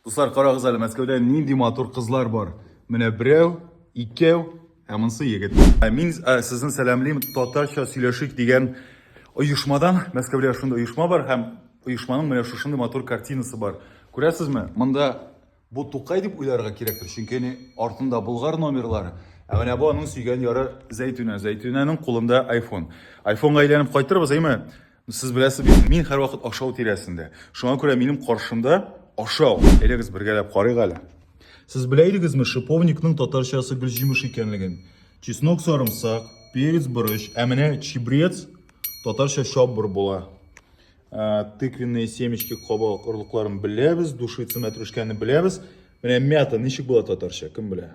Дуслар, карагыз әле, Мәскәүдә нинди матур кызлар бар. Менә берәү, икәү, ә монысы егет. Ә мин ә, сезне сәламлим татарча сөйләшик дигән оешмадан. Мәскәүдә шундый оешма бар һәм оешманың менә шушындый матур картинасы бар. Күрәсезме? Монда бу Тукай дип уйларга кирәктер, чөнки ни артында Болгар номерлары. Ә менә бу аның сөйгән яры Зәйтүнә. Зәйтүнәнең кулында iPhone. iPhone-га әйләнеп кайтырбыз, әйме? Сез беләсез бит, мин һәрвакыт ашау тирәсендә. Шуңа күрә минем каршымда ашау. Әйдәгез бергәләп карыйк әле. Сез белә идегезме шиповникның татарчасы гөлҗимеш икәнлеген? Чеснок сарымсак, перец борыч, ә менә чебрец татарча чаббыр була. Ә, тыквенные семечки кабак орлыкларын беләбез, душица мәтрүшкәне беләбез. Менә мята ничек була татарча, кем белә?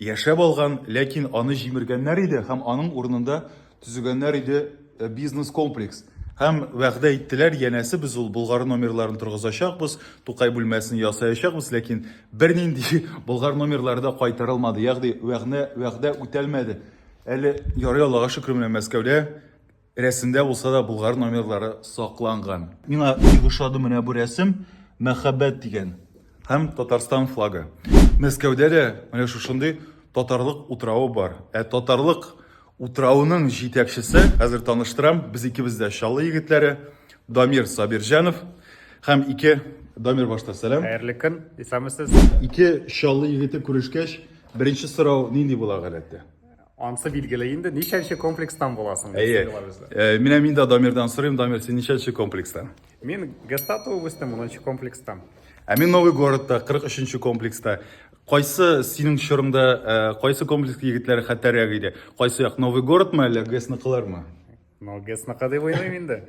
Яшәп алган, ләкин аны җимергәннәр иде һәм аның урынында төзегәннәр иде бизнес-комплекс. Һәм вәгъдә иттеләр, янәсе, без ул Болгар номерларын торгызачакбыз, Тукай бүлмәсен ясаячакбыз, ләкин бернинди Болгар номерлары да кайтарылмады, ягъни вәгънә, вәгъдә үтәлмәде. Әле ярый, Аллага шөкер, менә Мәскәүдә Рәсемдә булса да Болгар номерлары сакланган. Миңа бик ошады менә бу рәсем, мәхәббәт дигән һәм Татарстан флагы. Мәскәүдә дә менә шушындый татарлык утравы бар. Ә татарлык утравының җитәкчесе, хәзер таныштырам, без икебез дә Чаллы егетләре, Дамир Сабирҗанов һәм ике Дамир башта сәлам. Хәерле көн, исәнмесез. Ике Чаллы егете күрешкәч, беренче сорау нинди була гадәттә? Ансы билгеле инде, ничәнче комплекстан буласың? Әйе. Э, менә мин дә Дамирдан сорыйм, Дамир, син ничәнче комплекстан? Мин Геста туып үстем, 10 комплекстан. Ә мин Новый городта, 43 комплекста. Кайсы синең чорыңда, э, кайсы комплекс егетләре хәтәррәк иде? Кайсы як, Новый городмы әллә Гесныкылармы? Но гэс накадый войной инде.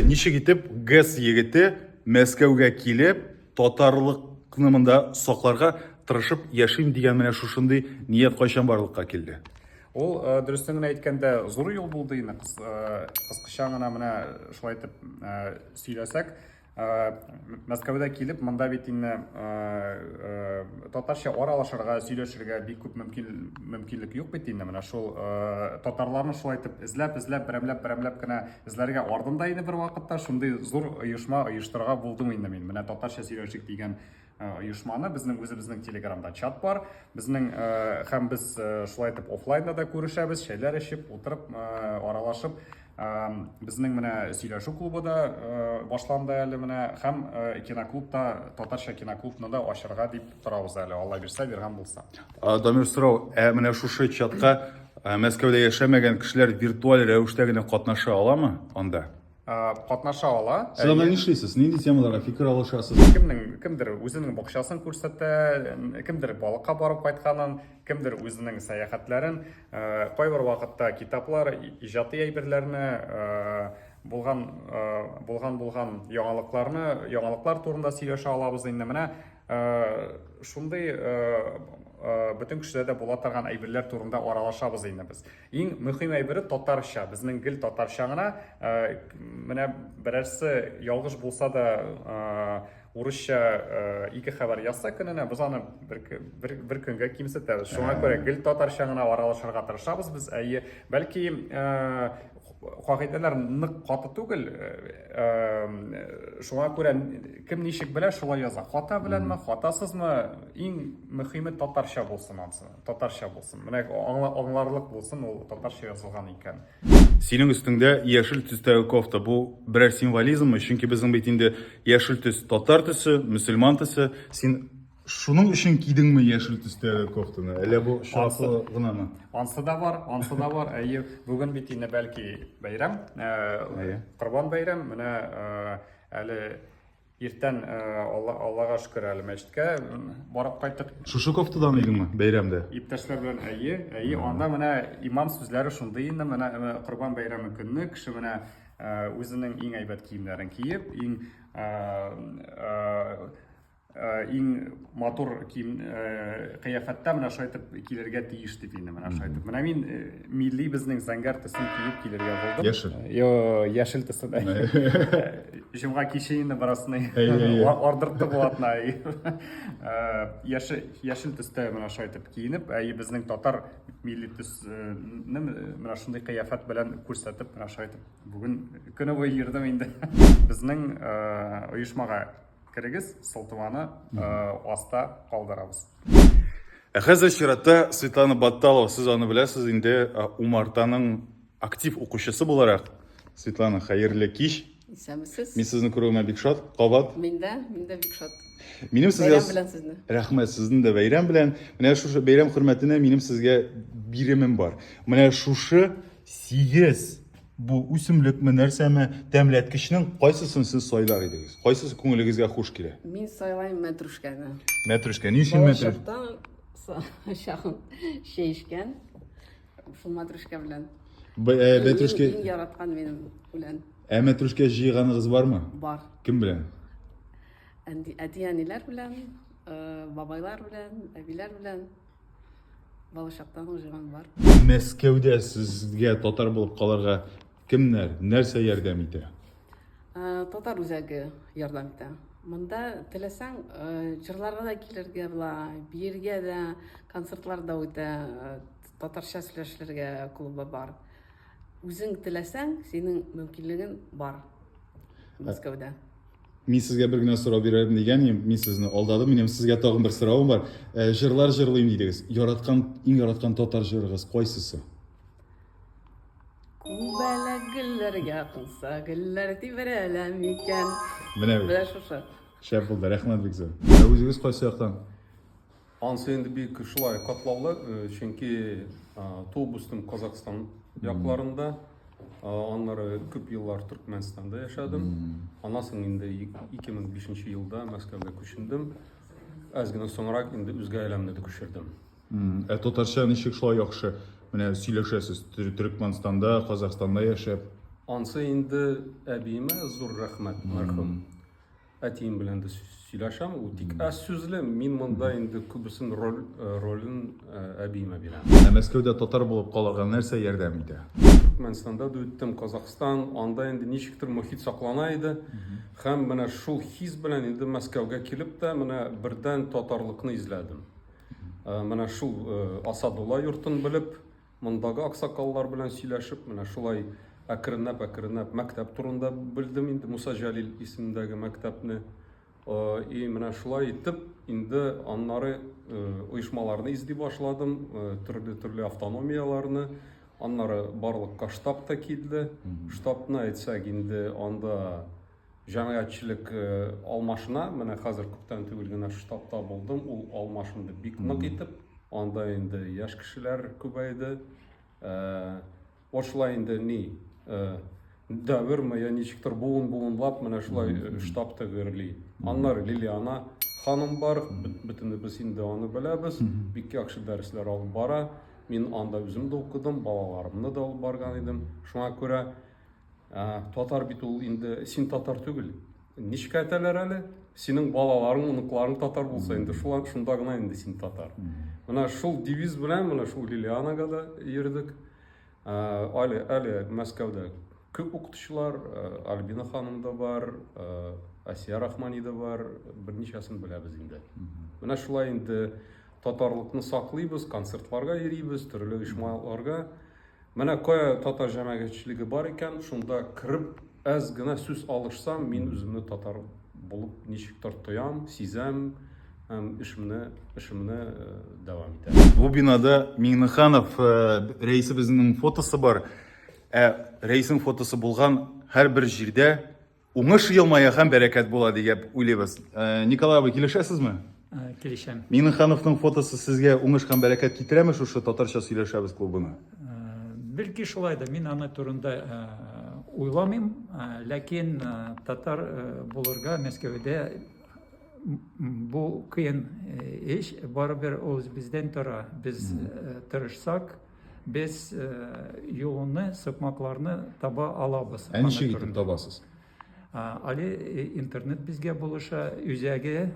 Ничек итеп гэс егете Мәскәүгә килеп, татарлыкны монда сакларга тырышып яшим дигән менә шушындый ният кайчан барлыкка килде? Ул э, дөрестән генә әйткәндә зур юл булды инде. Кыскача гына менә шулай итеп э, сөйләсәк, Э, Мәскәүдә килеп, монда бит инде э, э, татарча аралашырга, сөйләшергә бик күп мөмкинлек юк бит инде. Менә шул татарларны шулай итеп эзләп, эзләп, берәмләп, берәмләп кенә эзләргә ардым да инде бер вакытта. Шундый зур оешма оештырырга булдым инде мин. Менә татарча сөйләшик дигән Э, оешманы безнең үзебезнең телеграмда чат бар безнең э, һәм без э, шулай итеп офлайнда да күрешәбез шәйләр эчеп утырып аралашып безнең менә сөйләшү клубы да башланды әле менә һәм киноклубта татарча киноклубны да ачырга дип торабыз әле алла бирсә биргән булса дамир сорау ә менә шушы чатка мәскәүдә яшәмәгән кешеләр виртуаль рәвештә генә катнаша аламы анда катнаша ала. Сез анда нишлисез? Нинди темаларга фикер алышасыз? Кемнең кемдер үзенең бакчасын күрсәтә, кемдер балыкка барып кайтканын, кемдер үзенең сәяхәтләрен, кайбер вакытта китаплар, иҗади әйберләрне, булган булган булган яңалыкларны, яңалыклар турында сөйләшә алабыз инде менә. шундый бөтен кешеләрдә була торган әйберләр турында аралашабыз инде без. Иң мөһим әйбере татарча, безнең гел татарча гына. Менә берәрсе ялгыш булса да урысча ике хәбәр язса көненә, без аны бер, бер, бер көнгә кимсетәбез. Шуңа күрә гел татарча гына аралашырга тырышабыз без. Әйе, бәлки кагыйдәләр нык каты түгел э, э, шуңа күрә кем ничек белә шулай яза хата беләнме хатасызмы иң мөһиме татарча булсын ансы татарча булсын менә аңларлык булсын ул татарча язылган икән синең өстеңдә яшел төстәге кофта бу берәр символизммы чөнки безнең бит инде яшел төс татар төсе мөселман төсе син Шуның өчен кидеңме яшел төстәге кофтаны? Әллә бу чаклы гынамы? Ансы да бар, ансы да бар. Әйе, бүген бит инде бәлки бәйрәм, э, Корбан бәйрәм. Менә э, әле иртән э, Аллага шөкер әле мәчеткә барып кайттык. Шушы кофтадан идеңме бәйрәмдә? Иптәшләр белән әйе, әйе. Анда менә имам сүзләре шундый инде, менә Корбан бәйрәме көнне кеше менә үзенең иң әйбәт киемнәрен киеп, иң Э, иң матур кием э, кыяфәттә менә шулай итеп килергә тиеш дип инде менә шулай итеп менә мин э, милли безнең зәңгәр төсен киеп килергә булдым яшел йо яшел төсен җомга киче инде беразны ардыртты булатна яшел яшел төстә менә шулай итеп киенеп әй безнең татар милли төсне менә шундый кыяфәт белән күрсәтеп менә шулай итеп бүген көне буе йөрдем инде безнең оешмага Керегез, сылтаманы аста калдырабыз. Ә хәзер чиратта Светлана Батталова, сез аны беләсез инде, умартаның актив укучысы буларак. Светлана, хәерле кич. Исәнмесез. Мин сезне күрүемә бик шат. Кабат. Мин дә, мин дә бик шат. Минем сезгә Бәйрәм белән сезне. Рәхмәт, сезне дә бәйрәм белән. Менә шушы бәйрәм хөрмәтенә минем сезгә биремем бар. Менә шушы 8 Бу үсемлекме, нәрсәме? Тәмләткечнең кайсысын сез сайлар идегез? Кайсысы күңелегезгә хуш килә? Мин сайлайм мәтрүшкәне. Мәтрүшкә, ни өчен мәтрүшкә? Балачактан чагым чәй эчкән. Шул мәтрүшкә белән. Э, мәтрүшкә. Мин яраткан минем белән. Ә мәтрүшкә җыйганыгыз бармы? Бар. Кем белән? Әти-әниләр белән, э, бабайлар белән, әбиләр белән. Балачактан уже аның бар. Мәскәүдә сезгә татар булып калырга кемнәр, нәрсә ярдәм итә? Ә, татар үзәге ярдәм итә. Монда теләсәң, ә, җырларга да килергә була, биергә дә, концертлар да үтә, ә, татарча сөйләшергә клубы бар. Үзең теләсәң, синең мөмкинлеген бар Мәскәүдә. Мин сезгә бер генә сорау бирәм дигән идем, мин сезне алдадым. Минем сезгә тагын бер соравым бар. Э, җырлар җырлыйм дидегез. Яраткан, иң яраткан татар җырыгыз кайсысы? Күбәләк гөлләргә кунса, гөлләр тибрәлә микән? Менә бу. Менә шушы. Шәп булды, рәхмәт бик зур. Ә үзегез кайсы яктан? Ансы инде бик шулай катлаулы, чөнки туып-үстем Казакъстан якларында, аннары күп еллар Төркмәнстанда яшәдем. Аннан соң инде 2005 елда Мәскәүгә күчендем. Әз генә соңрак инде үзгә әләмне дә күчердем. Ә татарча ничек шулай яхшы менә сөйләшәсез? Төркмәнстанда, Казакъстанда яшәп. Ансы инде әбиемә зур рәхмәт, мәрхүм. Әтием белән дә сөйләшәм, ул тик аз сүзле, мин монда инде күбесен роль, э, ролен э, әбиемә бирәм. Ә Мәскәүдә татар булып калырга нәрсә ярдәм итә? Түркменстанда да үттем, Казахстан, анда инде ничектер мохит саклана иде. Һәм менә шул хис белән инде Мәскәүгә килеп тә менә бердән татарлыкны изләдем. Э, Менә шул э, Асадулла йортын белеп, Мондагы аксакаллар белән сөйләшеп, менә шулай әкренләп-әкренләп мәктәп турында белдем инде, Муса Җәлил исемендәге мәктәпне. И менә шулай итеп, инде аннары оешмаларны изди башладым, төрле-төрле автономияларны, аннары барлык штаб та килде. Штабны әйтсәк, инде анда Җәмәгатьчелек алмашына, менә хәзер күптән түгел генә штабта булдым, ул алмашынды бик нык итеп, анда инде яшь кешеләр күбәйде. Ошла инде ни, дәверме, я ничектер буын-буынлап менә шулай штаб тәгәрли. Аннары Лилиана ханым бар, бөтенебез инде аны беләбез, бик яхшы дәресләр алып бара. Мин анда үзем дә укыдым, балаларымны да алып барган идем. Шуңа күрә Татар бит ул инде, син татар түгел. Ничек әйтәләр әле? Синең балаларың, оныкларың татар булса инде, шулар шунда гына инде син татар. Менә шул девиз белән менә шул Лилианага да йөрдек. Әле әле Мәскәүдә күп укытучылар, Альбина ханым да бар, Асия Рахмани да бар, берничәсен беләбез инде. Менә шулай инде татарлыкны саклыйбыз, концертларга йөрибез, төрле оешмаларга. Менә кая татар җәмәгатьчелеге бар икән, шунда кереп, әз генә сүз алышсам, мин үземне татар булып ничектер тоям, сизәм һәм эшемне эшемне э, дәвам итәм. Бу бинада Миңнеханов э, рәисе безнең фотосы бар. Ә рәисең фотосы булган һәрбер җирдә Уңыш елмая һәм бәрәкәт була дигәп уйлыйбыз. Э, Николай абый, килешәсезме? Э, килешәм. Миннехановның фотосы сезгә уңыш һәм бәрәкәт китерәме шушы татарча сөйләшәбез клубына? Э, Белки шулай да мин аны турында уйламыйм, ләкин татар булырга Мәскәүдә бу кыен эш, барыбер ул бездән тора. Без тырышсак, Без юлны, сукмакларны таба алабыз. Ә ничек итеп табасыз? Али интернет безгә булыша, үзәге,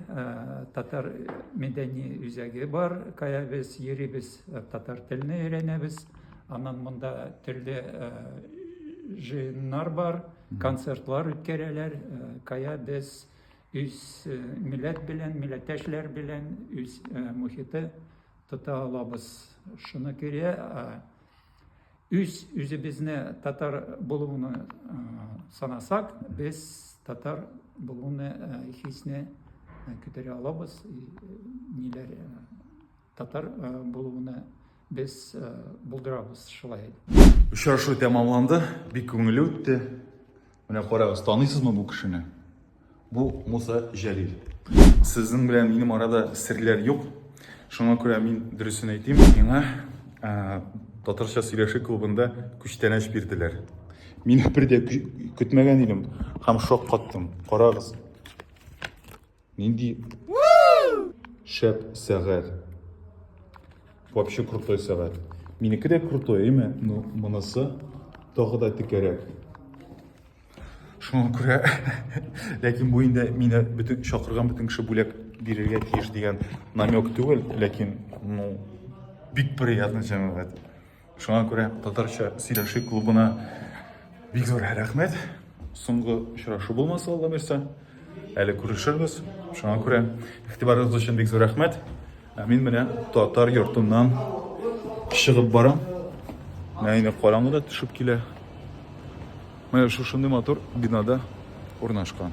татар мәдәни үзәге бар, кая без йөрибез, татар телен өйрәнәбез. Аннан монда төрле җыеннар бар, концертлар үткәрәләр, кая без үз милләт белән, милләттәшләр белән, үз мохите Тота алабыз шуны керә үз үзебезне татар булуны санасак без татар булуны хисне күтәрә алабыз ниләр татар булуны без булдырабыз шулай очрашу тәмамланды бик күңелле үтте Менә карагыз, таныйсызмы бу кешене? Бу Муса Җәлил. Сезнең белән минем арада серләр юк. Шуңа күрә мин дөресен әйтим. Миңа ә, татарча сөйләшү клубында күчтәнәч бирделәр. Мин бер дә көтмәгән идем һәм шаккаттым. Карагыз. Нинди шәп сәгать. Вообще крутой сәгать. Минеке дә крутой, әйме? Ну, монысы тагы да текәрәк. Шуңа күрә, ләкин бу инде мине бөтен чакырган бөтен кеше бүләк бирергә тиеш дигән намек түгел, ләкин, ну, бик приятный җәмәгать. Шуңа күрә татарча сөйләшик клубына бик зур рәхмәт. Соңгы очрашу булмаса, Алла бирсә, әле күрешербез. Шуңа күрә игътибарыгыз өчен бик зур рәхмәт. Ә мин менә татар йортыннан чыгып барам. Менә инде караңгы да төшеп килә. Менә шушындый матур бинада урнашкан.